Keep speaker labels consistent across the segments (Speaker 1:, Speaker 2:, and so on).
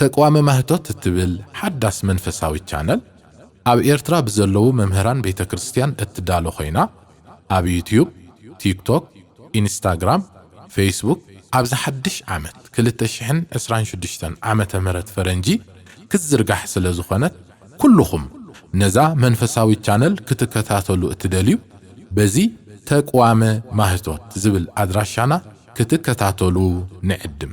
Speaker 1: ተቅዋመ ማህቶት እትብል ሓዳስ መንፈሳዊት ቻነል ኣብ ኤርትራ ብዘለዉ መምህራን ቤተ ክርስትያን እትዳሎ ኮይና ኣብ ዩትዩብ፣ ቲክቶክ፣ ኢንስታግራም፣ ፈይስቡክ ኣብዚ ሓድሽ ዓመት ክልተ ሽሕን ዕስራን ሽዱሽተን ዓመተ ምህረት ፈረንጂ ክትዝርጋሕ ስለ ዝኾነት ኩሉኹም ነዛ መንፈሳዊት ቻነል ክትከታተሉ እትደልዩ በዚ ተቅዋመ ማህቶት ዝብል ኣድራሻና ክትከታተሉ ንዕድም።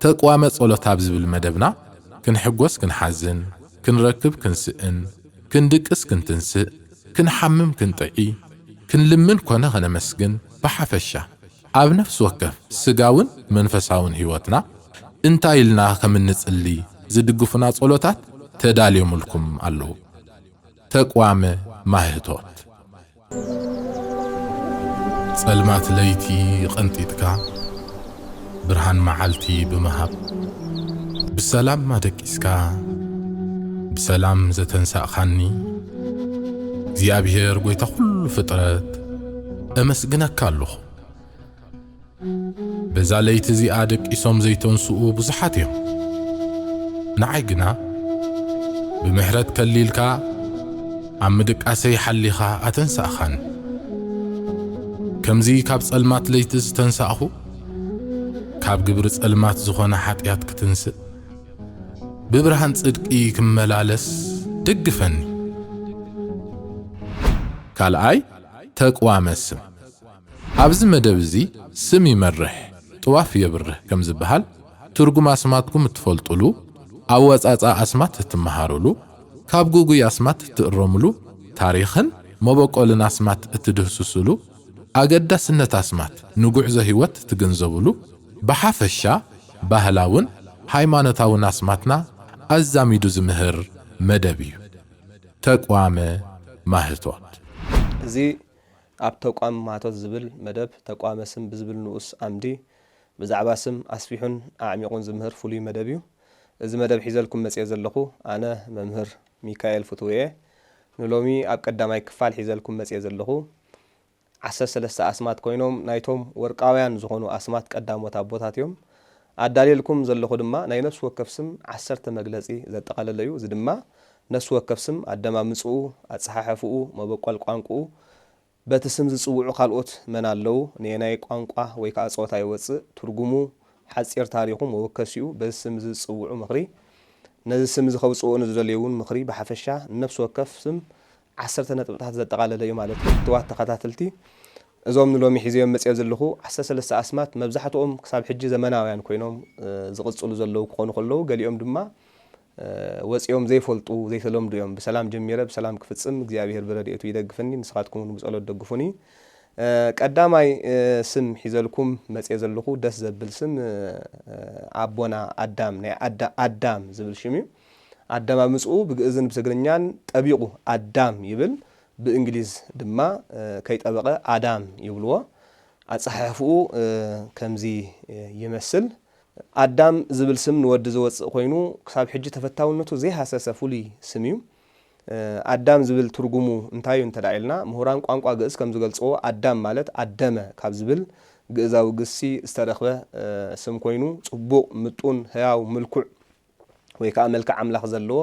Speaker 1: ተቅዋመ ጸሎት ኣብ ዝብል መደብና ክንሕጎስ ክንሓዝን፣ ክንረክብ ክንስእን፣ ክንድቅስ ክንትንስእ፣ ክንሓምም ክንጥዒ፣ ክንልምን ኮነ ከነመስግን ብሓፈሻ ኣብ ነፍሲ ወከፍ ስጋውን መንፈሳውን ሕይወትና እንታይ ኢልና ከም እንጽሊ ዝድግፉና ጸሎታት ተዳልዮምልኩም ኣለዉ። ተቅዋመ ማህቶት። ጸልማት ለይቲ ቐንጢጥካ ብርሃን መዓልቲ ብምሃብ ብሰላም ኣደቂስካ ብሰላም ዘተንሳእካኒ እግዚኣብሔር ጐይታ ዅሉ ፍጥረት እመስግነካ ኣሎኹ። በዛ ለይቲ እዚኣ ደቂሶም ዘይተንስኡ ብዙሓት እዮም። ንዓይ ግና ብምሕረት ከሊልካ ኣብ ምድቃሰይ ሓሊኻ ኣተንሳእኻኒ። ከምዚ ካብ ጸልማት ለይቲ ዝተንሳእኹ ካብ ግብሪ ጸልማት ዝኾነ ሓጢኣት ክትንስእ ብብርሃን ጽድቂ ክመላለስ ደግፈኒ። ካልኣይ ተቅዋመ ስም ኣብዚ መደብ እዚ ስም ይመርሕ ጥዋፍ የብርህ ከም ዝበሃል፣ ትርጉም ኣስማትኩም እትፈልጡሉ፣ ኣወጻጽኣ ኣስማት እትመሃሩሉ፣ ካብ ግጉይ ኣስማት እትእረሙሉ፣ ታሪኽን መበቆልን ኣስማት እትድህስሱሉ፣ ኣገዳስነት ኣስማት ንጉዕዞ ህይወት እትግንዘቡሉ፣ ብሓፈሻ ባህላውን ሃይማኖታውን ኣስማትና ኣዛሚዱ ዝምህር መደብ እዩ። ተቅዋመ ማህቶት። እዚ
Speaker 2: ኣብ ተቋም ማህቶት ዝብል መደብ ተቋመ ስም ብዝብል ንኡስ ኣምዲ ብዛዕባ ስም ኣስፊሑን ኣዕሚቑን ዝምህር ፍሉይ መደብ እዩ። እዚ መደብ ሒዘልኩም መጺኤ ዘለኹ ኣነ መምህር ሚካኤል ፍትዉ እየ። ንሎሚ ኣብ ቀዳማይ ክፋል ሒዘልኩም መጺኤ ዘለኹ ዓሰርተ ሰለስተ ኣስማት ኮይኖም ናይቶም ወርቃውያን ዝኾኑ ኣስማት ቀዳሞት ኣቦታት እዮም። ኣዳልየልኩም ዘለኹ ድማ ናይ ነፍሲ ወከፍ ስም ዓሰርተ መግለጺ ዘጠቓለለ እዩ። እዚ ድማ ነፍሲ ወከፍ ስም ኣደማምጽኡ፣ ኣጸሓሕፍኡ፣ መበቈል ቋንቁኡ፣ በቲ ስም ዝጽውዑ ካልኦት መን ኣለዉ፣ ነየናይ ቋንቋ ወይ ከኣ ጾታ ይወጽእ፣ ትርጉሙ፣ ሓጺር ታሪኹ፣ መወከሲኡ፣ በዚ ስም እዚ ዝጽውዑ ምኽሪ፣ ነዚ ስም እዚ ከውጽእዎ ንዝደልዩ'ውን ምኽሪ ብሓፈሻ ንነፍሲ ወከፍ ስም ዓሰርተ ነጥብታት ዘጠቓለለ እዩ ማለት እዩ። ፍቱዋት ተኸታተልቲ እዞም ንሎሚ ሒዘዮም መጺኤ ዘለኹ ዓሰርተ ሰለስተ ኣስማት መብዛሕትኦም ክሳብ ሕጂ ዘመናውያን ኰይኖም ዝቕጽሉ ዘለዉ ክዀኑ ከለዉ ገሊኦም ድማ ወጺኦም ዘይፈልጡ ዘይተለምዱ እዮም ብሰላም ጀሚረ ብሰላም ክፍጽም እግዚኣብሄር ብረድኤቱ ይደግፍኒ ንስኻትኩም ውን ብጸሎት ደግፉኒ ቀዳማይ ስም ሒዘልኩም መጽየ ዘለኹ ደስ ዘብል ስም ኣቦና ኣዳም ናይ ኣዳ ኣዳም ዝብል ሽም እዩ ኣደማምጽኡ ብግእዝን ብትግርኛን ጠቢቑ ኣዳም ይብል ብእንግሊዝ ድማ ከይጠበቐ ኣዳም ይብልዎ ኣጸሓሕፍኡ ከምዚ ይመስል ኣዳም ዝብል ስም ንወዲ ዘወጽእ ኮይኑ ክሳብ ሕጂ ተፈታውነቱ ዘይሃሰሰ ፍሉይ ስም እዩ። ኣዳም ዝብል ትርጉሙ እንታይ እዩ እንተድኣ ኢልና፣ ምሁራን ቋንቋ ግእዝ ከም ዝገልጽዎ ኣዳም ማለት ኣደመ ካብ ዝብል ግእዛዊ ግሲ ዝተረኽበ ስም ኮይኑ፣ ጽቡቕ፣ ምጡን፣ ህያው፣ ምልኩዕ፣ ወይ ከኣ መልክዕ ኣምላኽ ዘለዎ፣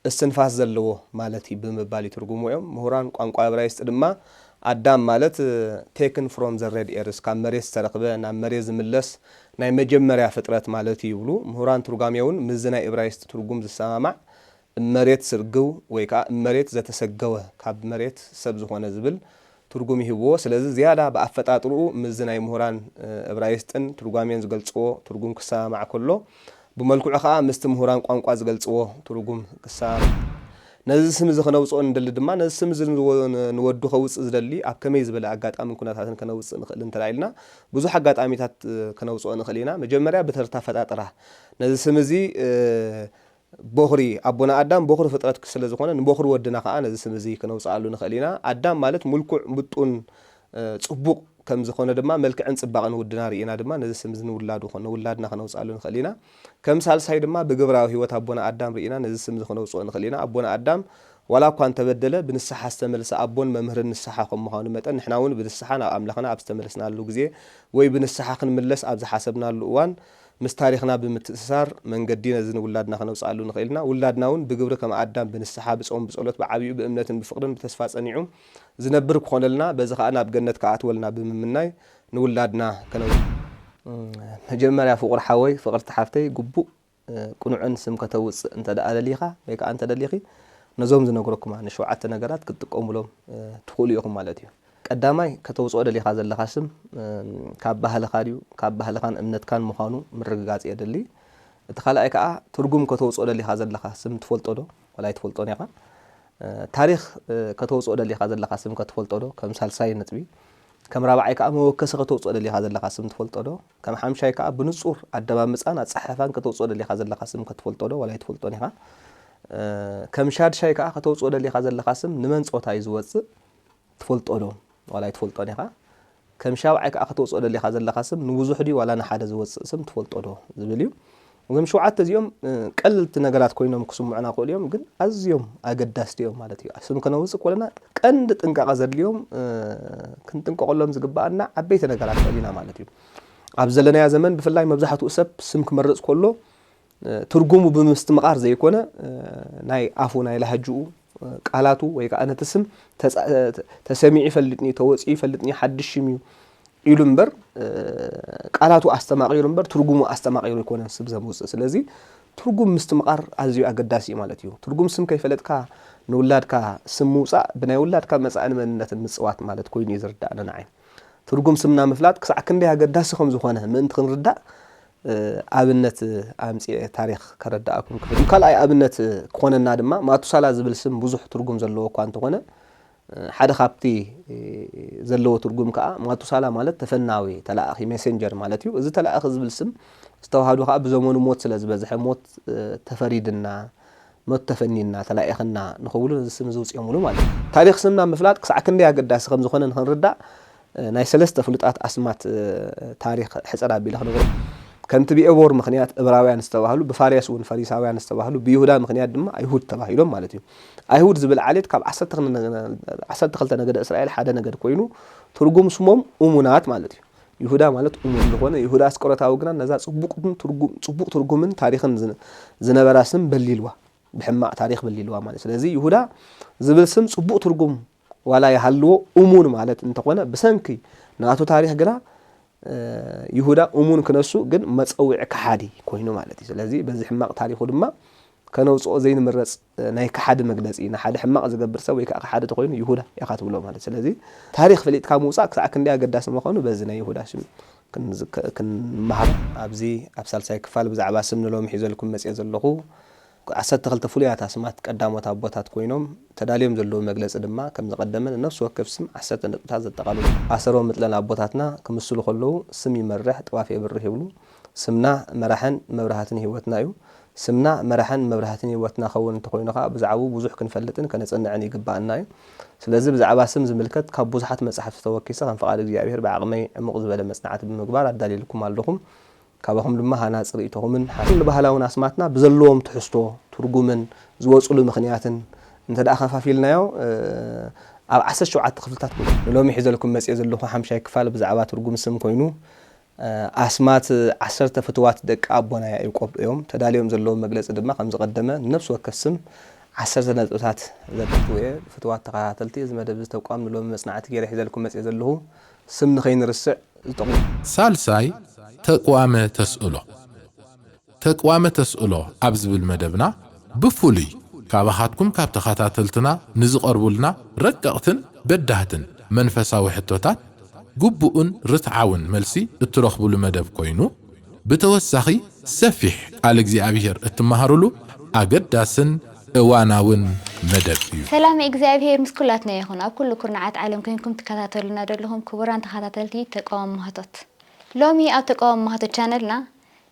Speaker 2: እስትንፋስ ዘለዎ ማለት እዩ ብምባል ይትርጉምዎ እዮም። ምሁራን ቋንቋ እብራይስጢ ድማ ኣዳም ማለት Taken from the red earth፣ ካብ መሬት ዝተረኽበ፣ ናብ መሬት ዝምለስ፣ ናይ መጀመርያ ፍጥረት ማለት እዩ ይብሉ። ምሁራን ትርጓሜ እውን ምስዚ ናይ እብራይስጢ ትርጉም ዝሰማማዕ እም መሬት ስርግው ወይ ከኣ እም መሬት ዘተሰገወ፣ ካብ መሬት ሰብ ዝኾነ ዝብል ትርጉም ይህብዎ። ስለዚ ዝያዳ ብኣፈጣጥርኡ ምስዚ ናይ ምሁራን እብራይስጥን ትርጓሜን ዝገልጽዎ ትርጉም ክሰማማዕ ከሎ፣ ብመልክዑ ከኣ ምስቲ ምሁራን ቋንቋ ዝገልጽዎ ትርጉም ክሰማማዕ ነዚ ስምዚ ከነውጽኦ ንደሊ ድማ ነዚ ስምዚ ንወዱ ከውጽእ ዝደሊ ኣብ ከመይ ዝበለ ኣጋጣምን ኩነታትን ከነውጽእ ንኽእል እንተ ኢልና ብዙሕ ኣጋጣሚታት ከነውጽኦ ንኽእል ኢና። መጀመርያ ብተርታ ኣፈጣጥራ ነዚ ስምዚ ቦኽሪ ኣቦና ኣዳም ቦኽሪ ፍጥረት ስለ ዝኾነ ንቦኽሪ ወድና ከኣ ነዚ ስም እዚ ክነውጽኣሉ ንኽእል ኢና። ኣዳም ማለት ምልኩዕ፣ ምጡን፣ ጽቡቕ ከም ዝኾነ ድማ መልክዕን ጽባቐን ውድና ርኢና ድማ ነዚ ስም እዚ ንውላዱ ኮነ ውላድና ክነውጽኣሉ ንኽእል ኢና። ከም ሳልሳይ ድማ ብግብራዊ ህይወት ኣቦና ኣዳም ርኢና ነዚ ስም እዚ ክነውጽኦ ንኽእል ኢና። ኣቦና ኣዳም ዋላ እኳ እንተበደለ ብንስሓ ዝተመልሰ ኣቦን መምህርን ንስሓ ከም ምዃኑ መጠን ንሕና እውን ብንስሓ ናብ ኣምላኽና ኣብ ዝተመለስናሉ ግዜ ወይ ብንስሓ ክንምለስ ኣብ ዝሓሰብናሉ እዋን ምስ ታሪኽና ብምትእስሳር መንገዲ ነዚ ንውላድና ከነውጽኣሉ ንኽእል ኢና። ውላድና እውን ብግብሪ ከም ኣዳም ብንስሓ፣ ብጾም፣ ብጸሎት፣ ብዓቢኡ ብእምነትን ብፍቕርን ብተስፋ ጸኒዑ ዝነብር ክኾነልና በዚ ከኣ ናብ ገነት ክኣትወልና ብምምናይ ንውላድና ከነውጽኣሉ መጀመርያ ፍቑር ሓወይ ፍቕርቲ ሓፍተይ ግቡእ ቅኑዕን ስም ከተውጽእ እንተ ደኣ ደሊኻ ወይ ከኣ እንተ ደሊኺ ነዞም ዝነግረኩማ ንሸውዓተ ነገራት ክትጥቀሙሎም ትኽእሉ ኢኹም ማለት እዩ። ቀዳማይ ከተውጽኦ ደሊኻ ዘለኻ ስም ካብ ባህልኻ ድዩ ካብ ባህልኻን እምነትካን ምዃኑ ምርግጋጽ የድሊ። እቲ ካልኣይ ከኣ ትርጉም ከተውጽኦ ደሊኻ ዘለኻ ስም ትፈልጦ ዶ ወላ ኣይትፈልጦን ኢኻ። ታሪኽ ከተውጽኦ ደሊኻ ዘለኻ ስም ከ ትፈልጦ ዶ ከም ሳልሳይ ነጥቢ። ከም ራብዓይ ከኣ መወከሲ ከተውጽኦ ደሊኻ ዘለኻ ስም ትፈልጦ ዶ። ከም ሓምሻይ ከኣ ብንጹር ኣደማምጻን ኣጸሓሕፋን ከተውጽኦ ደሊኻ ዘለኻ ስም ከ ትፈልጦ ዶ ወላ ኣይትፈልጦን ኢኻ። ከም ሻድሻይ ከኣ ከተውጽኦ ደሊኻ ዘለኻ ስም ንመን ጾታ እዩ ዝወጽእ። ትፈልጦ ዶ ዋላ ኣይትፈልጦን ኢኻ? ከም ሻብዓይ ከኣ ከተውጽኦ ደሊኻ ዘለኻ ስም ንብዙሕ ድዩ ዋላ ንሓደ ዝወጽእ ስም ትፈልጦ ዶ ዝብል እዩ። እዞም ሸውዓተ እዚኦም ቀለልቲ ነገራት ኮይኖም ክስምዑና ይኽእሉ እዮም፣ ግን ኣዝዮም ኣገዳስቲ እዮም ማለት እዩ። ስም ከነውጽእ ከለና ቀንዲ ጥንቃቐ ዘድልዮም ክንጥንቀቐሎም ዝግብኣና ዓበይቲ ነገራት ንዕብ ኢና ማለት እዩ። ኣብ ዘለናዮ ዘመን ብፍላይ መብዛሕትኡ ሰብ ስም ክመርጽ ከሎ ትርጉሙ ብምስትምቓር ዘይኮነ ናይ ኣፉ ናይ ላህጅኡ ቃላቱ ወይ ከዓ ነቲ ስም ተሰሚዑ ይፈልጥ ንዩ ተወፂኡ ይፈልጥ ንዩ ሓድሽ ሽም እዩ ኢሉ እምበር ቃላቱ ኣስተማቒሩ እምበር ትርጉሙ ኣስተማቒሩ ኣይኮነን ስብ ዘምውፅእ ስለዚ ትርጉም ምስትምቓር ኣዝዩ ኣገዳሲ እዩ ማለት እዩ ትርጉም ስም ከይፈለጥካ ንውላድካ ስም ምውፃእ ብናይ ውላድካ መፃእን መንነትን ምፅዋት ማለት ኮይኑ እዩ ዝርዳእና ንዓይ ትርጉም ስምና ምፍላጥ ክሳዕ ክንደይ ኣገዳሲ ከም ዝኾነ ምእንቲ ክንርዳእ ኣብነት ኣምጺኤ ታሪኽ ከረድኣኩም ክፍእል እዩ። ካልኣይ ኣብነት ክኾነና ድማ ማቱሳላ ዝብል ስም ብዙሕ ትርጉም ዘለዎ እኳ እንተኾነ ሓደ ካብቲ ዘለዎ ትርጉም ከኣ ማቱሳላ ማለት ተፈናዊ፣ ተላኣኺ፣ ሜሴንጀር ማለት እዩ። እዚ ተላኣኺ ዝብል ስም ዝተዋሃዶ ከኣ ብዘመኑ ሞት ስለ ዝበዝሐ ሞት ተፈሪድና፣ ሞት ተፈኒና፣ ተላኢኽና ንኽብሉ ነዚ ስም እዚ ኣውጺኦምሉ ማለት እዩ። ታሪኽ ስምና ምፍላጥ ክሳዕ ክንደይ ኣገዳሲ ከም ዝኾነ ንኽንርዳእ ናይ ሰለስተ ፍሉጣት ኣስማት ታሪኽ ሕጽር ኣቢለ ክነግረኩም። ከምቲ ብኤቦር ምኽንያት እብራውያን ዝተባህሉ፣ ብፋርያስ እውን ፈሪሳውያን ዝተባህሉ፣ ብይሁዳ ምኽንያት ድማ ኣይሁድ ተባሂሎም ማለት እዩ። ኣይሁድ ዝብል ዓሌት ካብ ዓሰርተ ክልተ ነገደ እስራኤል ሓደ ነገድ ኮይኑ ትርጉም ስሞም እሙናት ማለት እዩ። ይሁዳ ማለት እሙን ዝኾነ ይሁዳ ኣስቆሮታዊ ግና ነዛ ጽቡቕ ትርጉምን ታሪኽን ዝነበራ ስም በሊልዋ፣ ብሕማቕ ታሪኽ በሊልዋ ማለት እዩ። ስለዚ ይሁዳ ዝብል ስም ጽቡቕ ትርጉም ዋላ ይሃልዎ እሙን ማለት እንተኾነ ብሰንኪ ናቱ ታሪኽ ግና ይሁዳ እሙን ክነሱ ግን መጸውዒ ከሓዲ ኮይኑ ማለት እዩ። ስለዚ በዚ ሕማቕ ታሪኹ ድማ ከነውጽኦ ዘይንምረጽ ናይ ከሓዲ መግለጺ እዩ። ንሓደ ሕማቕ ዝገብር ሰብ ወይ ከኣ ከሓዲ ተኾይኑ ይሁዳ ኢኻ ትብሎ ማለት እዩ። ስለዚ ታሪኽ ፈሊጥካ ምውጻእ ክሳዕ ክንደይ ኣገዳሲ ምዃኑ በዚ ናይ ይሁዳ ሽም ክንምሃር። ኣብዚ ኣብ ሳልሳይ ክፋል ብዛዕባ ስም ንሎሚ ሒዘልኩም መጺኤ ዘለኹ ዓሰርተ ክልተ ፍሉያት ኣስማት ቀዳሞት ኣቦታት ኮይኖም ተዳልዮም ዘለዉ መግለጺ ድማ ከም ዝቐደመ ንነፍሲ ወከፍ ስም ዓሰርተ ነጥብታት ዘጠቓልሉ እዮም። ኣሰሮም ምጥለን ኣቦታትና ክምስሉ ከለዉ ስም ይመርሕ ጥዋፍ የብርህ ይብሉ። ስምና መራሕን መብራህትን ህይወትና እዩ። ስምና መራሕን መብራህትን ህይወትና ክኸውን እንተኾይኑ ከኣ ብዛዕብኡ ብዙሕ ክንፈልጥን ከነጽንዕን ይግበኣና እዩ። ስለዚ ብዛዕባ ስም ዝምልከት ካብ ብዙሓት መጻሕፍቲ ተወኪሰ ከም ፍቓድ እግዚኣብሔር ብዓቕመይ ዕሙቕ ዝበለ መጽናዕቲ ብምግባር ኣዳልየልኩም ኣለኹ። ካባኹም ድማ ሃናጺ ርእይቶኹምን ሓሳብኩምን ንኹሉ ባህላውን ኣስማትና ብዘለዎም ትሕዝቶ፣ ትርጉምን ዝወጽሉ ምኽንያትን እንተድኣ ከፋፊልናዮ ኣብ ዓሰርተ ሸውዓተ ክፍልታት ክውጽእ እዩ። ንሎሚ ሒዘልኩም መጽየ ዘለኹ ሓምሻይ ክፋል ብዛዕባ ትርጉም ስም ኮይኑ ኣስማት ዓሰርተ ፍትዋት ደቂ ኣቦና ያኢቆብ እዮም። ተዳልዮም ዘለዉ መግለጺ ድማ ከም ዝቐደመ ንነብሲ ወከፍ ስም ዓሰርተ ነጥብታት ዘዳልው እየ። ፍትዋት ተኸታተልቲ እዚ መደብ እዚ ተቋም ንሎሚ መጽናዕቲ ገይረ ሒዘልኩም መጽየ ዘለኹ ስም ንኸይንርስዕ ዝጠቕሙ። ሳልሳይ፣
Speaker 1: ተቅዋመ ተስእሎ። ተቅዋመ ተስእሎ ኣብ ዝብል መደብና ብፍሉይ ካባኻትኩም ካብ ተኸታተልትና ንዝቐርቡልና ረቀቕትን በዳህትን መንፈሳዊ ሕቶታት ግቡእን ርትዓውን መልሲ እትረኽቡሉ መደብ ኮይኑ፣ ብተወሳኺ ሰፊሕ ቃል እግዚኣብሄር እትመሃሩሉ ኣገዳስን እዋናውን መደብ እዩ። ሰላመ እግዚኣብሄር ምስ
Speaker 3: ኩላትና ይኹን ኣብ ኩሉ ኩርናዓት ዓለም ኮንኩም ትከታተሉና ደለኹም ክቡራን ተኻታተልቲ ተቃዋሚ ማህቶት ሎሚ ኣብ ተቃዋሚ ማህቶት ቻነልና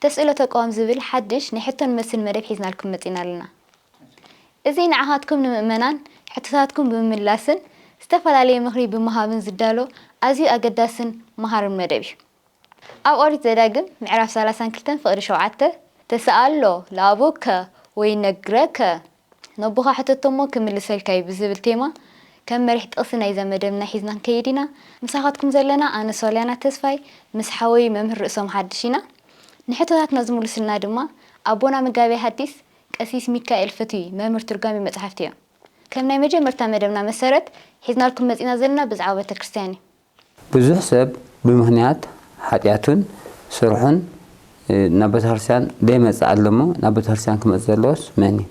Speaker 3: ተስእሎ ተቃዋሚ ዝብል ሓድሽ ናይ ሕቶን መልስን መደብ ሒዝናልኩም መጺና ኣለና እዚ ንዓኻትኩም ንምእመናን ሕቶታትኩም ብምምላስን ዝተፈላለዩ ምኽሪ ብምሃብን ዝዳሎ ኣዝዩ ኣገዳስን መሃርን መደብ እዩ ኣብ ኦሪት ዘዳግም ምዕራፍ ሰላሳን ክልተን ፍቕዲ ሸውዓተ፣ ተሰኣሎ ለኣቡከ ወይነግረከ፣ ነቦኻ ሕተቶ እሞ ክምልሰልካ እዩ ብዝብል ቴማ ከም መሪሕ ጥቕሲ ናይዛ መደብና ሒዝና ክንከይድ ኢና። ምሳኻትኩም ዘለና ኣነ ሶልያና ተስፋይ ምስ ሓወይ መምህር ርእሶም ሓድሽ ኢና። ንሕቶታትና ዝምሉስልና ድማ ኣቦና መጋቤ ሃዲስ ቀሲስ ሚካኤል ፍትዊ መምህር ትርጓሜ መጽሓፍቲ እዮም። ከም ናይ መጀመርታ መደብና መሰረት ሒዝናልኩም መጺእና ዘለና ብዛዕባ ቤተክርስትያን እዩ። ብዙሕ
Speaker 4: ሰብ ብምኽንያት ሓጢኣቱን ስርሑን ናብ ቤተክርስትያን ደይመጽእ ኣሎ እሞ ናብ ቤተክርስትያን ክመጽእ ዘለዎስ መን እዩ?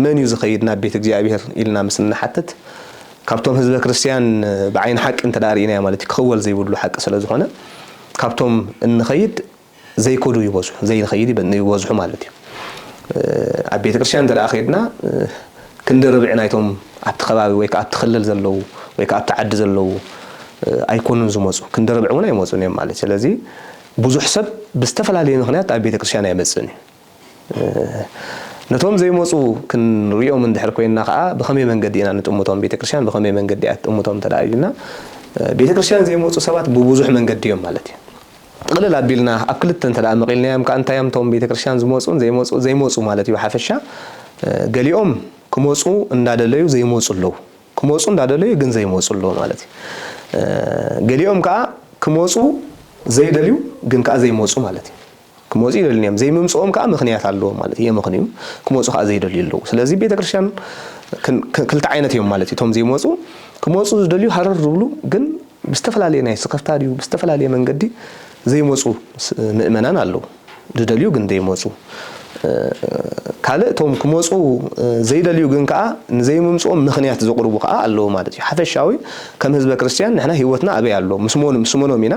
Speaker 4: መን እዩ ዝኸይድ
Speaker 2: ናብ ቤት እግዚኣብሔር ኢልና ምስ እንሓትት ካብቶም ህዝበ ክርስትያን ብዓይኒ ሓቂ እንተ ርኢናዮ ማለት እዩ ክኽወል ዘይብሉ ሓቂ ስለ ዝኾነ ካብቶም እንኸይድ ዘይከዱ ይበዝሑ ዘይንኸይድ ይበዝሑ ማለት እዩ። ኣብ ቤተ ክርስቲያን እንተደኣ ከይድና ክንዲ ርብዒ ናይቶም ኣብቲ ከባቢ ወይ ከኣ ኣብቲ ክልል ዘለዉ ወይ ከኣ ኣብቲ ዓዲ ዘለዉ ኣይኮኑን ዝመጹ ክንዲ ርብዒ እውን ኣይመጹን እዮም ማለት እዩ። ስለዚ ብዙሕ ሰብ ብዝተፈላለየ ምኽንያት ኣብ ቤተ ክርስቲያን ኣይመጽእን እዩ። ነቶም ዘይመጹ ክንርእዮም እንድሕር ኮይንና ከኣ ብኸመይ መንገዲ ኢና ንጥምቶም? ቤተ ክርስቲያን ብኸመይ መንገዲ እያ ትጥምቶም እንተ ደኣ ኢልና፣ ቤተ ክርስቲያን ዘይመጹ ሰባት ብብዙሕ መንገዲ እዮም ማለት እዩ። ጥቕልል ኣቢልና ኣብ ክልተ እንተ ደኣ መቒልናዮም ከኣ እንታይ እዮም እቶም ቤተ ክርስቲያን ዝመጹን ዘይመጹ ዘይመጹ ማለት እዩ ብሓፈሻ ገሊኦም ክመጹ እንዳ ደለዩ ዘይመጹ ኣለዉ። ክመጹ እንዳ ደለዩ ግን ዘይመጹ ኣለዉ ማለት እዩ። ገሊኦም ከኣ ክመጹ ዘይደልዩ ግን ከኣ ዘይመጹ ማለት እዩ። ክመጹ ይደልዩን እዮም። ዘይምምጽኦም ከኣ ምኽንያት ኣለዎም ማለት እዩ። የምኽንዩ ክመጹ ከኣ ዘይደልዩ ኣለዉ። ስለዚ ቤተክርስትያን ክልተ ዓይነት እዮም ማለት እዩ። እቶም ዘይመጹ ክመጹ ዝደልዩ ሃረር ዝብሉ ግን ብዝተፈላለየ ናይ ስክፍታ ድዩ ብዝተፈላለየ መንገዲ ዘይመጹ ምእመናን ኣለዉ። ዝደልዩ ግን ዘይመጹ ካልእ እቶም ክመጹ ዘይደልዩ ግን ከኣ ንዘይምምጽኦም ምኽንያት ዘቕርቡ ከኣ ኣለዉ ማለት እዩ። ሓፈሻዊ ከም ህዝበ ክርስትያን ንሕና ህይወትና ኣበይ ኣሎ ምስ መን ምስ መኖም ኢና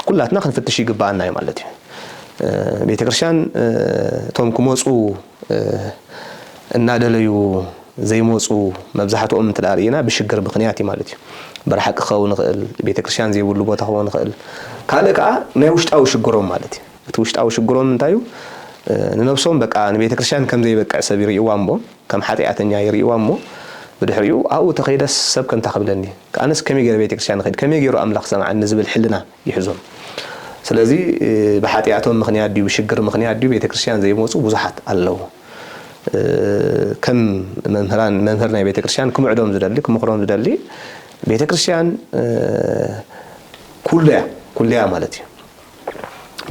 Speaker 2: ኩላትና ክንፍትሽ ይግበኣና እዩ ማለት እዩ። ቤተክርስትያን እቶም ክመፁ እናደለዩ ዘይመፁ መብዛሕትኦም እንተ ርእና ብሽግር ምክንያት እዩ ማለት እዩ። ብርሓቂ ክኸውን ይኽእል፣ ቤተክርስትያን ዘይብሉ ቦታ ክኸውን ይኽእል፣ ካልእ ከዓ ናይ ውሽጣዊ ሽግሮም ማለት እዩ። እቲ ውሽጣዊ ሽግሮም እንታይ እዩ? ንነብሶም በቃ ንቤተክርስትያን ከም ዘይበቅዕ ሰብ ይርእይዋ እሞ፣ ከም ሓጢኣተኛ ይርእይዋ እሞ፣ ብድሕሪኡ ኣብኡ ተኸይደስ ሰብ ከምታ ክብለኒ፣ ኣነስ ከመይ ገይረ ቤተክርስትያን ኽድ ከመይ ገይሩ ኣምላኽ ክሰምዓኒ ዝብል ሕልና ይሕዞም ስለዚ ብሓጥያቶም ምኽንያት ድዩ ብሽግር ምኽንያት ድዩ ቤተክርስትያን ዘይመጹ ብዙሓት ኣለዉ ከም መምህራን መምህር ናይ ቤተክርስትያን ክምዕዶም ዝደሊ ክምኽሮም ዝደሊ ቤተክርስትያን ኩሉያ ኩሉያ ማለት እዩ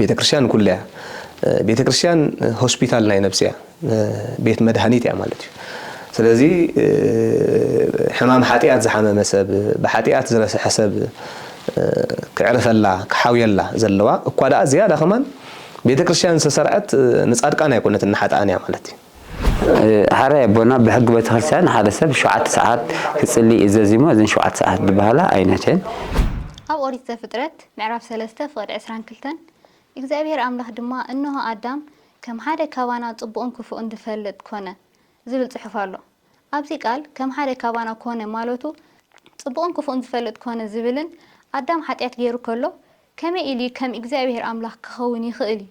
Speaker 2: ቤተክርስትያን ንኩሉ እያ ቤተክርስትያን ሆስፒታል ናይ ነብሲ እያ ቤት መድሃኒት እያ ማለት እዩ ስለዚ ሕማም ሓጢኣት ዝሓመመ ሰብ ብሓጢኣት ዝረስሐ ሰብ ክዕርፈላ ክሓውየላ ዘለዋ እኳ ደኣ ዝያዳ ከማን ቤተ ክርስቲያን ዝተሰርዐት ንጻድቃን ኣይኮነትን ንሓጥኣን እያ ማለት እዩ
Speaker 4: ሓራ ኣቦና ብሕጊ ቤተክርስትያን ሓደ ሰብ ሸውዓተ ሰዓት ክጽሊ እዩ ዘዚሞ እዘን ሸውዓተ ሰዓት ዝበሃላ ኣይነት እየን ኣብ
Speaker 3: ኦሪት ዘፍጥረት ምዕራፍ ሰለስተ ፍቕድ ዕስራን ክልተን እግዚኣብሄር ኣምላኽ ድማ እንሆ ኣዳም ከም ሓደ ካባና ጽቡቕን ክፉእን ዝፈልጥ ኮነ ዝብል ጽሑፍ ኣሎ። ኣብዚ ቃል ከም ሓደ ካባና ኮነ ማለቱ ጽቡቕን ክፉእን ዝፈልጥ ኮነ ዝብልን ኣዳም ሓጢኣት ገይሩ ከሎ ከመይ ኢሉዩ ከም እግዚኣብሄር ኣምላኽ ክኸውን ይኽእል እዩ?